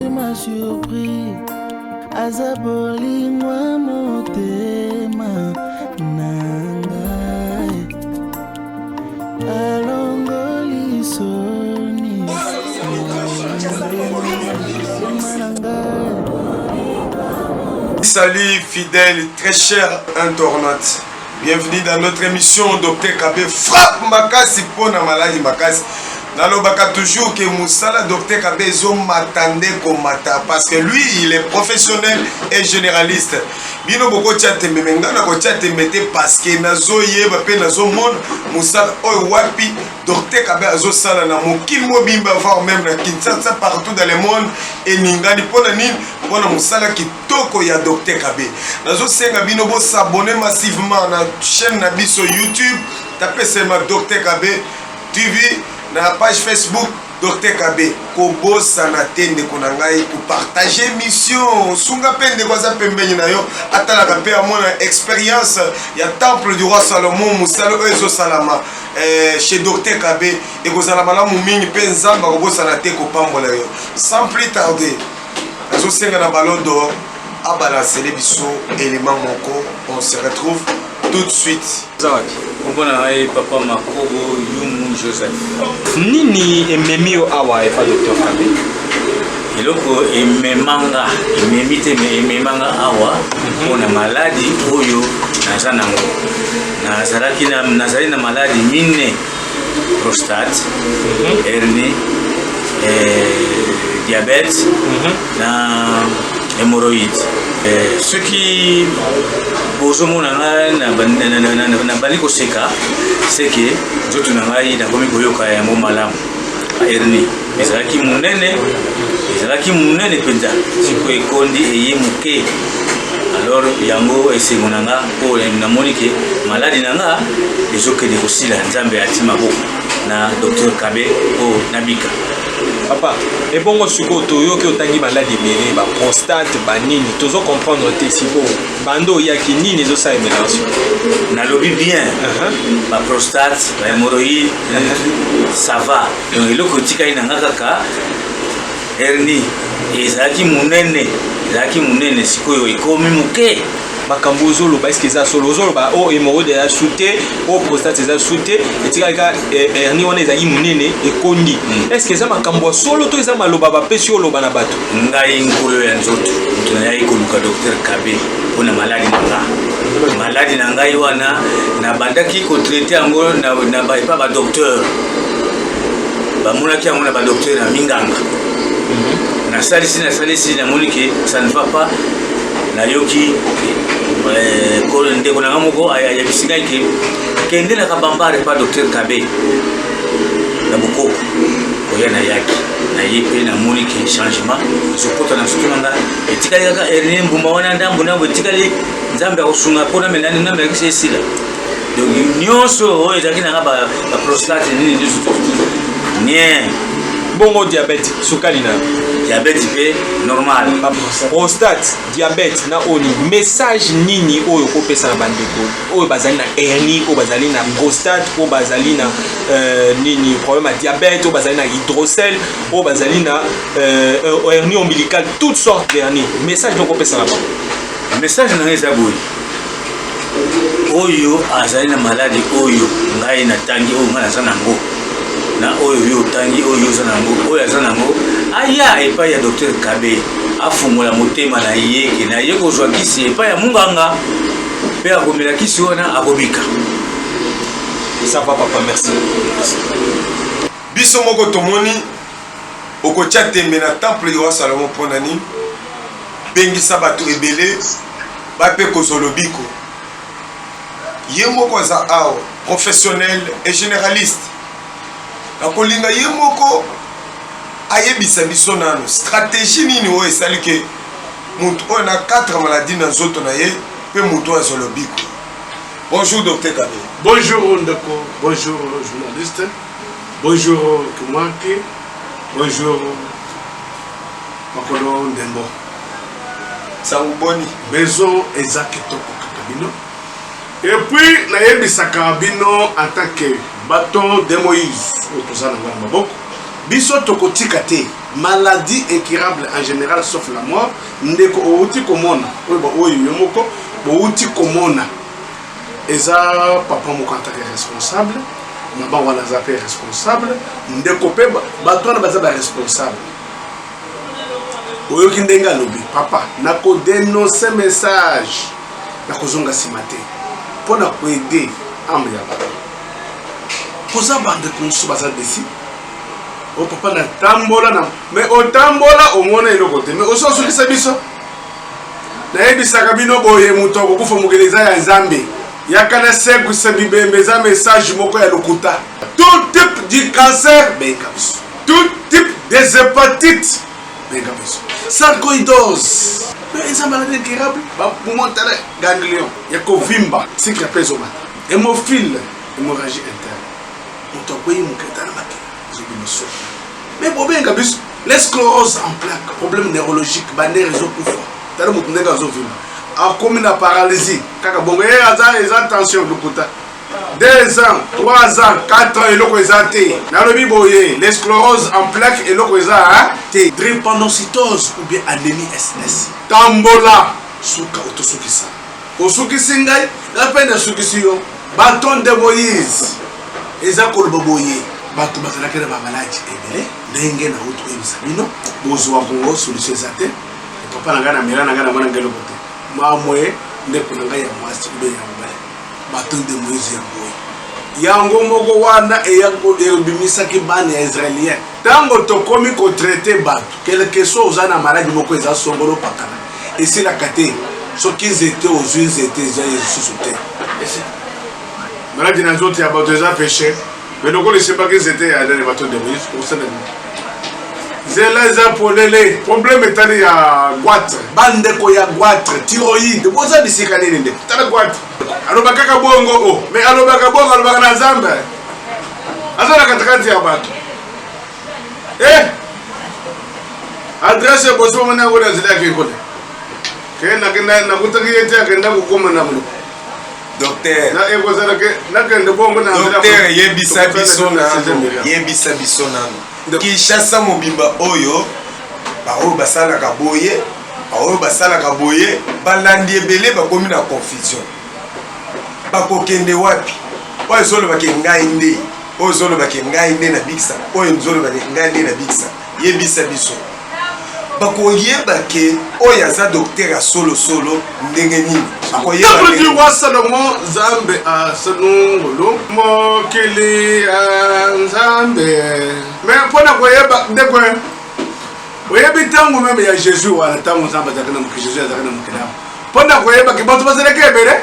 motema surpris aza bolingwa motema na ngai alongoli soni na ngai Salut fidèle, très cher internaute. Bienvenue dans notre émission Docteur Kabe frappe makasi mpo na maladi makasi nalobaka toujours que mosala Docteur Kabe ezomata nde komata parce que lui il est professionnel et généraliste bino bokotya tembe me ngai nakotya tembe te parce que nazoyeba mpe nazomona mosala oyo wapi Docteur Kabe azosala na mokili mobimba voire même na Kinshasa partout dans le monde eningani mpo na nini mpo na mosala kitoko ya Docteur Kabe. Nazo senga bino bo s'abonner massivement na chaîne na biso YouTube, tape seulement Docteur Kabe TV na page Facebook Docteur Kabe. Kobosana te ndeko na ngai ko partager mission. Sunga pe ndeko aza pembeni na yo, atalaka pe amona expérience ya temple du roi Salomon musala oyo ezo salama eh, chez Docteur Kabe ekozala malamu mingi pe Nzambe akobosana te kopambola yo. Sans plus tarder Nazo senga na ballon d'or a balancele biso element moko on se retrouve tout de suite. Kombo na ngai papa Makobo Yumu Joseph. Nini ememi yo awa epa docteur Kabe? eloko ememanga ememi te me ememanga awa mpo na maladi oyo naza nango nazalaki nazali na maladi minne prostate mhm. hernie eh, diabète mhm. na hémorroïde eh, soki bozomona ngai nabandi koseka seke nzoto na ngai nakomi koyoka yango malamu hernie ezalaki monene ezalaki monene mpenza siko ekondi eye moke alors yango esengo na nga mpo namoni ke maladi na nga ezokende kosila nzambe ati maboko na docteur kabe mpo nabika papa ebongo sikoyo toyoki otangi maladi ebele baprostate banini tozo comprendre te sikoyo bando oyaki nini ezosala emelanso nalobi bien uh-huh. baprostate bahemoroïde uh-huh. ça va donc eloko etikali na nga kaka herni ezalaki monene ezalaki monene sikoyo ekomi moke makambo ozoloba eske eza solo ozoloba o oh, hemorroide eza su te o oh, prostate eza su te etikali ka eh, hernie wana ezalaki monene ekondi hmm. eske eza makambo ya solo to eza maloba bapesi oloba na bato ngai nkolo ya nzoto moto nayaki koluka docteur kabe mpo na maladi na nga maladi na ngai wana nabandaki kotraite yango na epa badocteur bamonaki yango na badoktere na minganga mhm. nasalisi nasalisi namoni ke ça ne va pas nayoki eh, ndeko na nga moko ayebisi ngai ke kende na kabambare pa docteur kabe na bokoko oya nayaki naye mpe namoni ke changement ezokota na nsutu na nga etikali kaka erne mbuma wana ndambo ndambo etikali nzambe akosunga mpo namelani namelakisi esila donc nyonso oyo ezalaki nanga baprostate nini nyonso nien bongo diabete sukali na diabete mpe normal prostate diabete na oni message nini oyo okopesa na bandeko oyo bazali na hernie oyo bazali na prostate oyo bazali na euh, nini problème ya diabete oyo bazali na hydrocel oyo bazali na euh, hernie ombilical toutes sortes d'hernie message nokopesa na bango message na ngai eza boye oyo azali na maladi oyo ngai natangi oyo ngai naza na yango na oyo yo otangi oyo oza na yango oyo aza na yango aya epai ya docteur kabe afungola motema na ye ke na ye kozwa kisi epai ya munganga mpe akomela kisi wana akobika eza papa merci biso moko tomoni Okotya ntembe na temple ya roi Salomon mpo na nini? Bengisa bato ebele bape kozwa lobiko. Ye moko aza awa, professionnel et généraliste. Nakolinga ye moko ayebisa biso nanu stratégie nini oyo esali ke moto oyo na 4 maladie na nzoto na ye mpe moto oyo azwa lobiko bonjour docteur kabe bonjour ndeko bonjour journaliste Bonjour Kimwaki, bonjour Makolo Ndembo. Sango boni? Maison eza kitoko kaka bino. Et puis nayebisaka bino en tant que bâton de Moïse oyo toza na ngana maboko biso tokotika te maladie incurable en général sauf la mort ndeko outi komona oyo baoyo yo moko bouti komona eza papa moko atake responsable mama wana aza mpe responsable ndeko mpe bato wana baza baresponsable oyoki ndenge alobi papa nakodenonse message nakozonga nsima te mpo na koede ame ya bato koza bandeko mosusu baza desi o oh, papa natambola na me otambola omona eloko te me osi osukisa biso nayebisaka bino boye moto akokufa mokili eza ya nzambe yaka na sekwisa bibembe eza message moko ya lokuta tout type du cancer benga biso tout type des hepatites benga biso sarcoidose eza maladi incurable bamontana ganglion ya kovimba sikre mpe ezomata hémophile hémorragie interne moto akwei moketa na makila mais bobenga biso les sclérose en plaque problème neurologique bandere ezokufa tala moto ndenge azovima akomi na paralysie kaka bongo ye aza eza tension lokuta 2 ans 3 ans 4 ans eloko eza te nalobi boye les sclérose en plaque eloko eza te drépanocytose ou bien anémie ss tambola suka otosukisa Osukisi ngai nga pe na sukisi yo baton de moise eza koloba boye bato bazalaki na bamaladi ebele ndenge na uti koyebisa bino bozwa kongo solution eza te papa na ngai na mela na ngai na mwana ngai eloko te mamwe ndeko na ngai ya mwasi ube ya mobali baton de moise ya boye yango moko wana ebimisaki bana ya israelien ntango tokomi kotraite bato kelke so oza na maladi moko eza songolo pakana esilaka te soki nzete ozwi nzete eza ye lisusu te maladi na nzoto ya bato eza peshe me lokola esimbaki nzete ya adene bato ndeko yesu kosala nini nzela eza polele probleme etali ya gwatre bandeko ya gwatre tiroide boza bisika nini ndeko tala gwatre alobaka kaka bongo o oh. me alobaka bongo alobaka na nzambe aza na katikati ya bato eh adresse boso mona yango na nzela yake kole ke nakenda nakutaki ye te akenda kokoma na mlo docteur na ekozala ke nakende bongo na docteur yebisa biso nano yebisa biso nano kinshasa mobimba oyo baoyo basalaka boye baoyo basalaka boye balandi ebele bakomi na confusion bakokende wapi oyo ezolobake ngai nde oyo ozoloba ke ngai nde na bikisa oyo nzoloba ke ngai nde na bikisa yebisa biso bakoyeba ke oyo aza doktere ya solosolo ndenge nini akoyeba salomo nzambe asanungulu mokili ya nzambe me mpo na koyeba ndeko oyebi ntango meme ya jésus wana ntango nzambe azalaki na mokili jésus azalaki na mokili yango mpo na koyebaki bato bazalaki ebele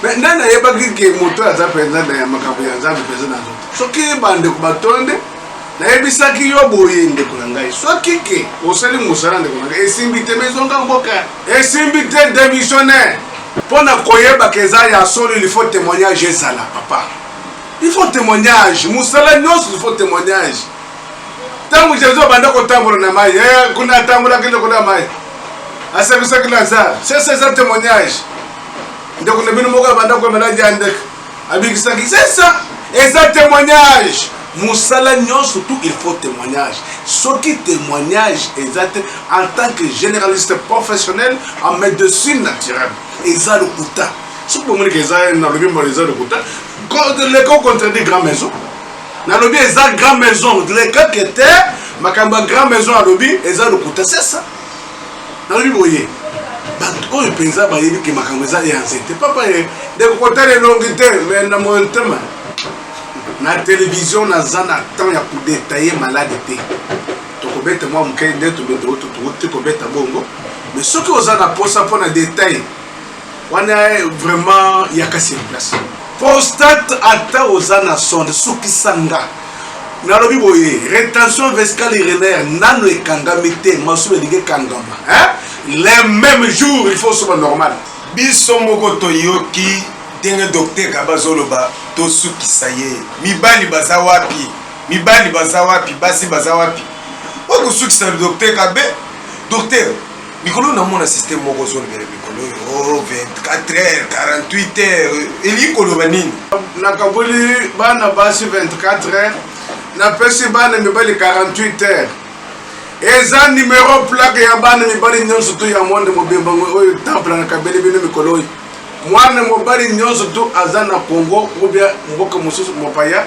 me nde nayebaki ke moto aza mpenza na makambo ya nzambe mpenza na nzoto soki bandeko batonde nayebisaki yo boye ndeko na ngai soki ke osali mosala ndeko na ngai esimbi te mezonga mboka esimbi te démissionnaire mpo na koyebaka eza ya solo il faut témoignage ezala papa il faut témoignage mosala nyonso il faut témoignage ntango jésus abanda kotambola na mai eh, kuna atambolaki ndeko na mai asakisaki lazare sese eza témoignage ndeko na bino moko abanda kwa maladi ya ndeke abikisaki sesa eza témoignage mosala nyonso tout il faut témoignage soki témoignage eza te en tant que généraliste professionnel en médecine naturelle eza lokuta soki bomoni ke eza nalobi mbala eza lokuta leko contredit grand maison nalobi eza grand maison leka kete makambo ya grand maison alobi eza lokuta c'est ça nalobi boye bato oyo mpenza bayebi ke makambo eza ya nzete papa ye ndeko kotala elongi te me na motema na televizio naza na temps ya kodetaye malade te tokobeta mwa moke nde tobeta oyo tokobeta bongo me soki oza na mposa mpo na detail wana vraiment yaka sur place prostate ata oza na sonde sukisa nga nalobi boye retention vescale urinaire nano ekangami te masuba elingi ekangama le même jour il faut osoba normal biso moko toyoki ndenge docteur kaba azoloba tosukisa ye mibali baza wapi mibali baza wapi basi baza wapi okosukisa docteur kabe docteur mikolo namona systeme moko ozolobela mikolo oyo 24 heures 48 heures elingi koloba nini nakaboli bana basi 24 heures napesi bana mibali 48 heures eza numero plaque ya bana mibali nyonso to ya monde mobimba oyo temple nakabeli bino mikolo oyo mwana mobali nyonso to aza na congo obia mboka mosusu mopaya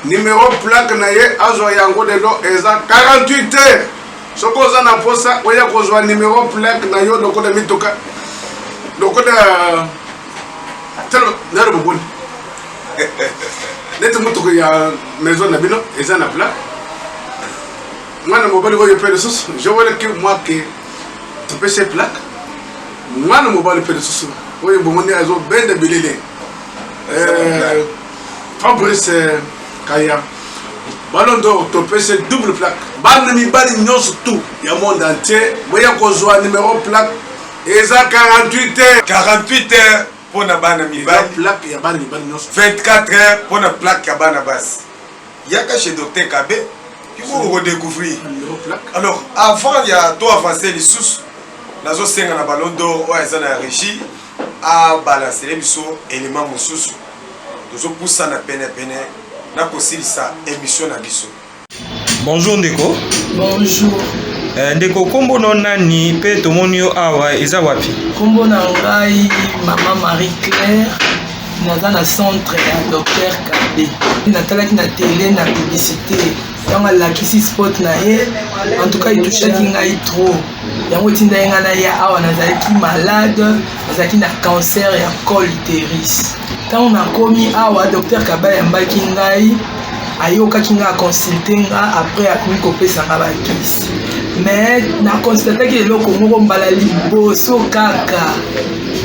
numero plaque na ye azwa yango lelo eza 48 heures soki oza na mposa oya kozwa numero plaque na yo lokola mituka lokola nalo boboni neti motuku ya maison na bino eza na plaque mwana mobali oyo mpe lisusu jowelaki mwake topesi ye plaque mwana mobali mpe lisusu oyo bomoni azobenda bilili eh, fabrice kaya Ballon d'or topese double plaque. Bana mibali nyonso tout ya monde entier boya kozwa numero plaque eza 48 heures. 48 heures pona bana mibali. Plaque ya bana mibali nyonso. 24 heures pona plaque ya bana basi. Yaka chez docteur Kabe kiko ko découvrir. Alors avant ya to avancer lisusu nazosenga na ballon d'or oyo eza na régie a balancele biso element mususu tozo pusana pene pene na kosilisa emission na biso. Bonjour ndeko. Bonjour. Eh, ndeko kombo no nani pe tomoni yo awa eza wapi? Kombo na ngai mama Marie Claire naza na centre ya docteur Kabe. Natalaki na tele na publicité ntango alakisi spot na ye en tout cas etushaki ngai trop yango etindaki ngai naya awa nazalaki malade nazalaki na cancer ya col uteris ntango nakomi awa docteur kaba yambaki ngai ayokaki ngai aconsulte nga après akomi kopesa ngai bakisi mais naconstataki eloko moko mbala liboso kaka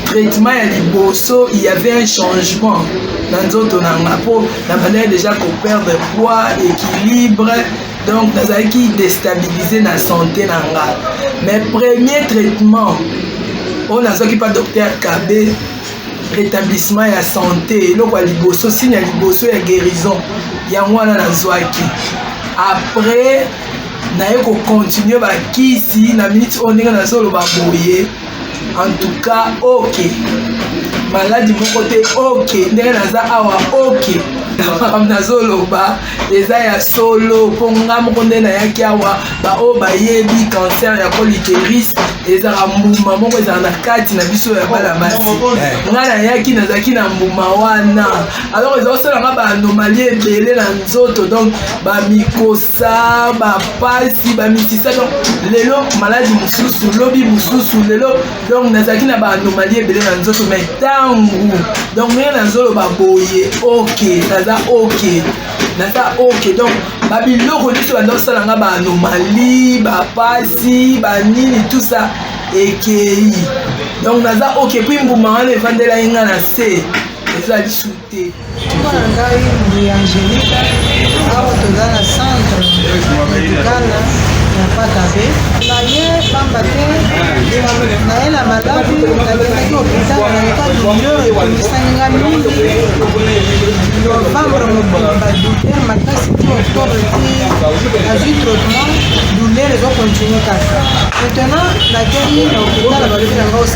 traitement ya liboso il y avait un changement na nzoto na nga mpo nabandaki déjà koperdre poids équilibre donc nazalaki destabilise na sante na nga mais premier traitement oyo nazwaki mpa docteur kabe rétablissement ya sante eloko ya liboso signe ya liboso ya guérison yango wana nazwaki après naye kocontinue bakisi na miniti oyo ndenge nazoloba boye en tout cas ok maladi moko te ok ndenge naza awa ok makambo nazoloba eza ya solo mpo nga moko nde nayaki awa baoyo bayebi cancer ya coliteris ezalaka mbuma moko ezala na kati na biso ya bana basi nga nayaki nazalaki na mbuma wana alors eza kosala nga baanomalie ebele na nzoto donc bamikose sa bapasi bamisisa donc lelo maladi mosusu lobi mosusu lelo donc nazalaki na baanomali ebele na nzoto mai ntango donc ndenge nazoloba boye ok naza ok naza ok donc babiloko nyonso banda kosala nga baanomali bapasi banini tout ça ekei donc naza ok puis mbuma wana evandelaki nga na se eza lisusu te mpo na ngai mbuya angelika awa toza na centre medicale na patabe naye pamba te naye na maladi nakendaki hopital na etat douleur ekomisani nga mingi novembre mobimba douleur makasi ti octobre ti azwi traitement douleur ezokontinue kaka maintenant nakei na hopital balobi na nga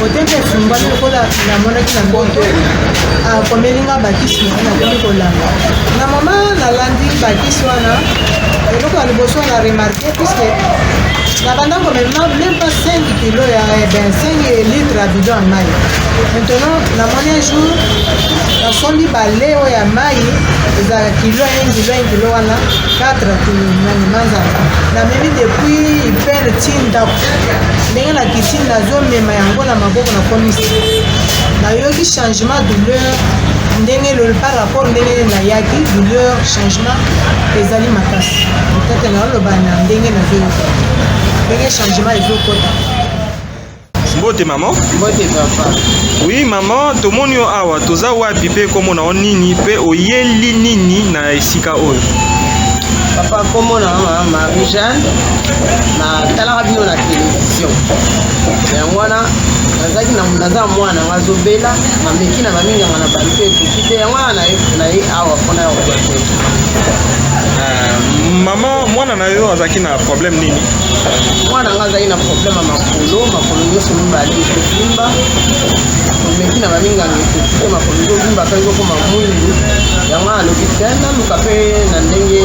Botembe efumbami lokola namonaki na mboto akomeli nga bakisi na ye nakomi kolanda na mama nalandi bakisi wana eloko ya liboso na remarke puiske nabanda komema meme pas 5 kilo ya ben 5 litre ya bidon ya mai maintenant namoni un jour nasombi bale oyo ya mai ezalaka kilo 1 kilo 1 kilo wana 4 kilomanzanza namemi depuis ipele ti ndako ndenge na kiti nazomema yango na maboko na komisi nayoki changement douleur ndenge par rapport ndenge nayaki douleur changement ezali makasi otata naoloba na ndenge nazoyoka ndenge changement ezokota mbote mama mbote papa oui mama tomoni yo awa toza wapi mpe komona yo nini mpe oyeli nini na esika oyo papa komona mama marie jeanne natalaka bino na television yango wana nazalaki naza mwana nga azobela mameki na baminganga na bato ekoki te yango wana naye awa mpona ya kobate euh, mama mwana na yo azalaki na problème nini mwana nga azalaki na problème ya makolo makolo nyonso mibale ekozimba omeki na baminganga ekoki te makolo ezozimba mpe ezokoma mwindu yango alobi te naluka mpe na ndenge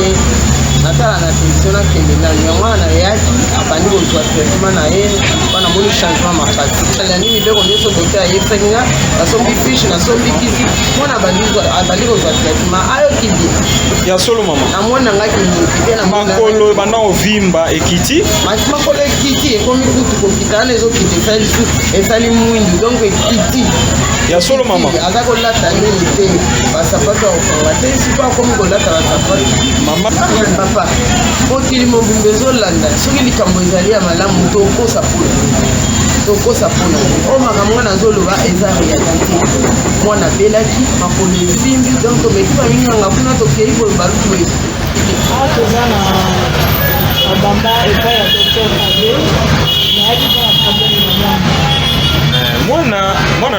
natala solution nakende nani yango wana nayaki abandi kozwa traitement na ye mpo namoni changement makasi alandi mibeko nyonso dote ayebisaki nga nasombi fiche nasombi kisi mpo na abandi kozwa traitement ayoki bie ya solo mama namoni nanga kimakolo ebanda ovimba ekiti maki makolo ekiti ekomi kutu kokita wana ezokita esali su esali mwindu donc ekiti ya solo mama aza kolata nini te basapato ya kokanga te siko akomi kolata basapato papa mokili mobimba ezolanda soki likambo ezali ya malamu tokosa pona tokosa pona oyo makambo wana azoloba eza realite mwana abelaki makolo esimbi donc tomeki baminganga kuna tokei boye baluku esi awa ah, toza na babamba epai ya docteur abe nayaki mpo na probleme na mwana eh, mwana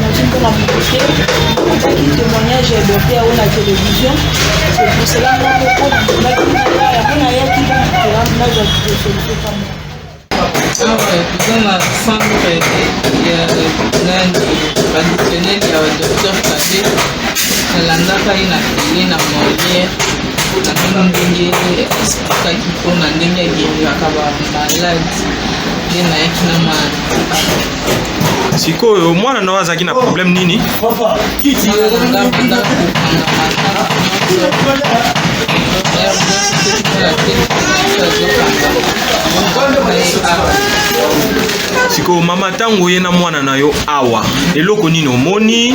nazwi mpo na moto te azaki témoignage ya dote yango na télévision sepusela moko mpo nandimaki naya yango nayaki bana nazwa kidosolite kama awa eza na centre ya nani traditionnel ya docteur kade nalandaka ye na tele na moliere namoni ndenge esplikaki mpona ndenge ageriraka bamaladi nde nayaki na ma sikoyo mwana na yo azalaki na problème nini sikoyo mama ntango oye na mwana na yo awa eloko nini omoni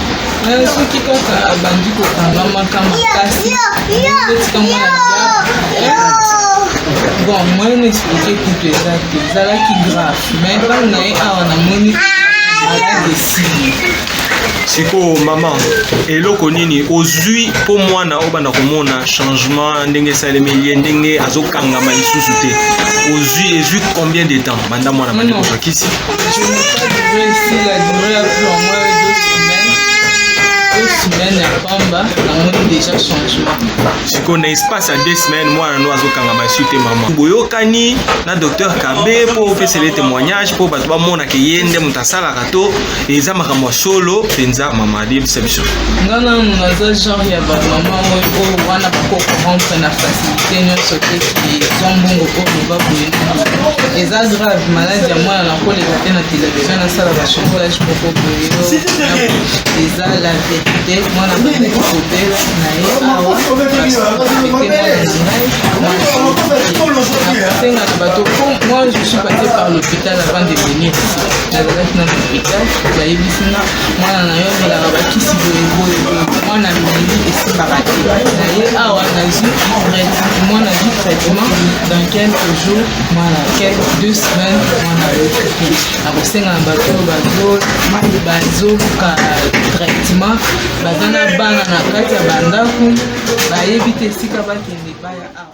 Eh, soki kaka abandi kokangamaka makasi etika mwana bon moyen n'explike kutu eza te ezalaki grave mais ntango na ye awa namoni malade esili sikoyo mama eloko nini ozwi mpo mwana obanda komona changement ndenge esalemi ye ndenge azokangama lisusu te ozwi ezwi combien de temps banda mwana bandi kozwa kisi semaine ya pamba namoni deja changement sikoyo na espace ya deux semaine mwana no azokanga masu te mama boyokani na docteur kabe mpo opesele témoignage mpo bato bamonaka ye nde moto asalaka to eza makambo ya solo mpenza mama yebisa biso nga nanu naza genre ya bamama oyo oyo wana bakokorompe na facilité nyonso te ezwa mbongo oyo loba boye eza grave maladi ya mwana nakoleka te na televizio nasala bachocolage moko boye eza la verité mwana bazaki kobela na ye awa senga na bato moi je suis passé par l'hôpital avant de venir ici nazalaki na lopital bayebisi nga mwana na yo amelaka bakisi boyeboye mwana meli esimbaka te na ye awa nazwi mwana azwi traitement dans quelques jours mwana quelque deux semaines mwana ayoki akosenga na bato oyo bazo bazoka traitement baza na bana na kati ya bandako bayebi te esika bakende baya awa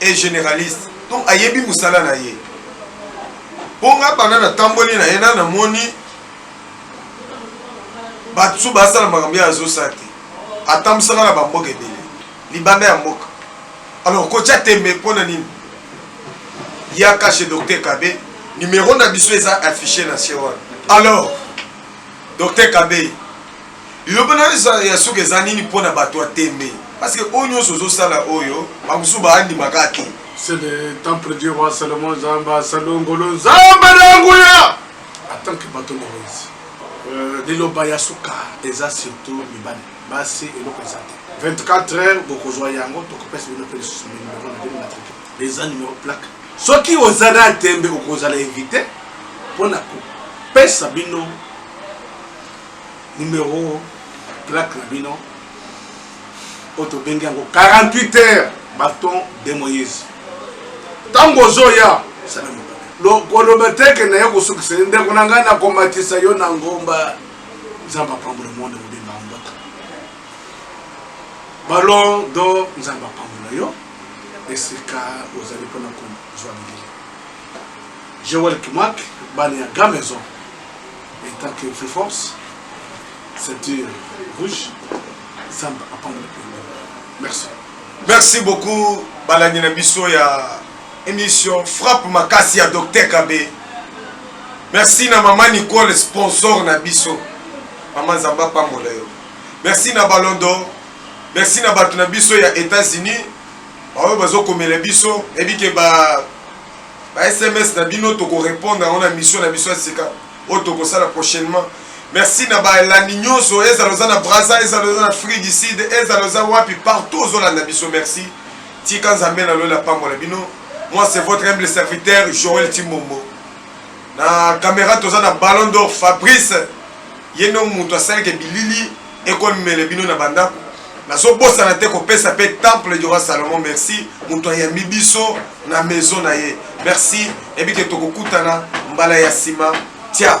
est generaliste donc ayebi musala na ye mpo nga banda natamboli na ye na namoni bato so basala makambo ye azosala te atambusaka na bamboka ebele libanda ya mboka alors kotya tembe mpo na nini ya kashe docteur kabe numero na biso eza affiche na se wana alors docteur kabe Liloba na yo ya suka eza nini mpo na bato ya tembe? Parce que oyo nyonso ozosala oyo bamosusu baandima kaka te. C'est le temple du roi Salomon Nzambe asalongolo Nzambe na nguya en tant que bato na Moïse. Euh, liloba ya suka eza surtout mibali basi eloko eza te 24 heures bokozwa yango tokopesa bino mpe lisusu numero na bino matrike eza numero plaque soki oza na tembe okozala invité mpo na kopesa bino numero plaque na bino oyo tobengi yango 48 heures baton de moïse ntango ozoya koloba teke na ye kosukisa ye ndeko na ngai nakomatisa yo na ngomba nzambe apambola monde mobimba ya mboka balon do nzambe apambola yo esika ozali mpona kozwa bilili joel kimwak bana ya gramaison Etant que feu force, ceinture rouge, Zamba apamba le pays. Merci. Merci beaucoup balandi na biso ya émission frappe makasi ya Docteur Kabe. Merci na maman Nicole sponsor na biso. Maman Zamba pambola yo. Merci na Ballon d'Or. Merci na bato na biso ya États-Unis. Baoyo bazokomela biso ebike ba ba sms na bino toko repondre yango na mission na biso ya sika oyo tokosala prochainement merci na balandi nyonso ezala oza na braza ezala oza na afrique du sud ezala oza wapi partout ozolanda biso merci tika nzambe na loyela pambola bino moi c'est votre humble serviteur joel timbombo na kamera toza na ballon d'or fabrice ye nde moto asalaka bilili ekomemele bino na bandako nazobosana te kopesa mpe temple du roi salomon merci moto ayambi biso na maison na ye merci ebike tokokutana mbala ya nsima tia